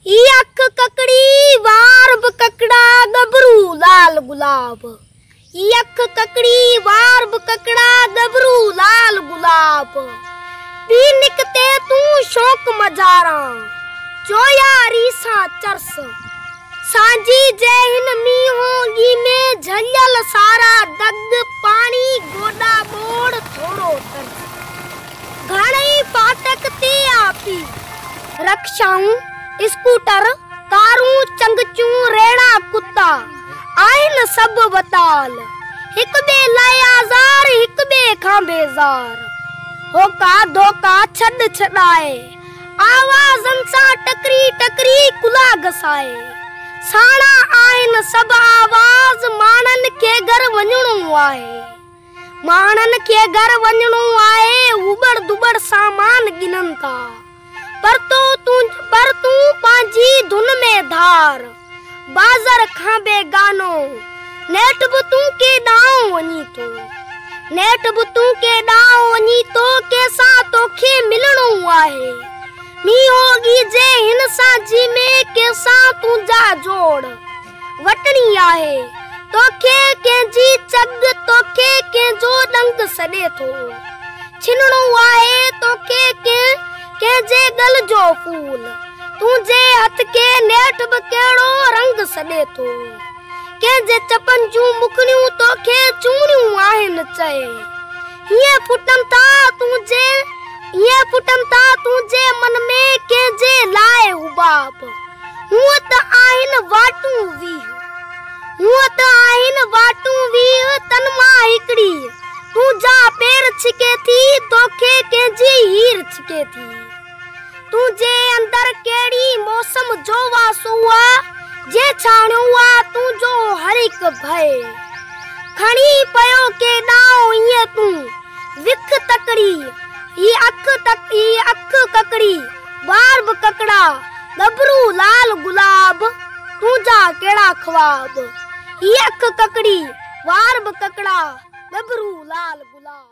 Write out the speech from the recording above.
هي اک ڪڪڙي، وار به ڪڪڙا، ڳڀرو لال گلاب. هي اک ڪڪڙي، وار به ڪڪڙا، ڳڀرو لال گلاب. پي نڪتي تون شوق مزاران، جو ياري سان چرس. سانجهي جي هن مينهونگي ۾ جهليل سارا دڳ، پاڻي گوڏا ٻوڙ ٿورو ترس. گهڻئي ڦاٽڪ تي آپي رڪشائون، اسڪوٽر، ڪارون، چنگچون، ريڙها ڪتا آهن سڀ وتال، هڪ ٻئي لاء آزار، هڪ ٻئي کان بيزار. هوڪا ڌوڪا، ڇڏ ڇڏائي، آوازن سان ٽڪري ٽڪري ڪلها گسائي. ساڻا آهن سڀ آواز، ماڻهن کي گهر وڃڻو آهي. ماڻهن کي گهر وڃڻو آهي، اٻڙ دٻڙ سامان ڳنن ٿا، پر تون پر تون پنهنجي ڌن ۾ ڌار، بازر کان بيگانو، نيٺ به تون ڪي ڏانهن وڃين ٿو، نيٺ به تون ڪي ڏانهن وڃين ٿو، ڪنهن سان توکي ملڻو آهي، مينهو ڳيجي هن سان جي ۾ ڪنهن سان تنهنجا جوڙ. وٽڻي آهي، توکي ڪنهن جي چڳ، توکي ڪنهن جو ڏنگ سڏي ٿو، ڇنڻو آهي توکي ڪنهن، ڪنهن جي ڳل جو ڦول، تنهنجي هٿ کي نيٺ به ڪهڙو رنگ سڏي ٿو، ڪنهن جي چپن جون مکڙيون توکي چوڻيون آهن چئي، هيئن ڦٽن ٿا تنهنجي. ائين پٽن تان تنهنجي من ۾ ڪنهن جي لاء حباب هونء ته آهن واٽون ويهه هونء ته آهن واٽون ويهه تن مان هڪڙي تنهنجا پير ڇڪي ٿي توکي ڪنهن جي هير ڇڪي ٿي تنهنجي اندر ڪهڙي موسم جو واسو آ جنهن ڇاڻيو آ تنهنجو هر هڪ ڀئي کڻي پيو ڪيڏانهن ائين تون وک تڪڙي، هي اک تڪڙي، هي اک ڪڪڙي، وار به ڪڪڙا، ڳڀرو لال گلاب، تنهنجا ڪهڙا خواب. هي اک ڪڪڙي، وار به ڪڪڙا، ڳڀرو لال گلاب.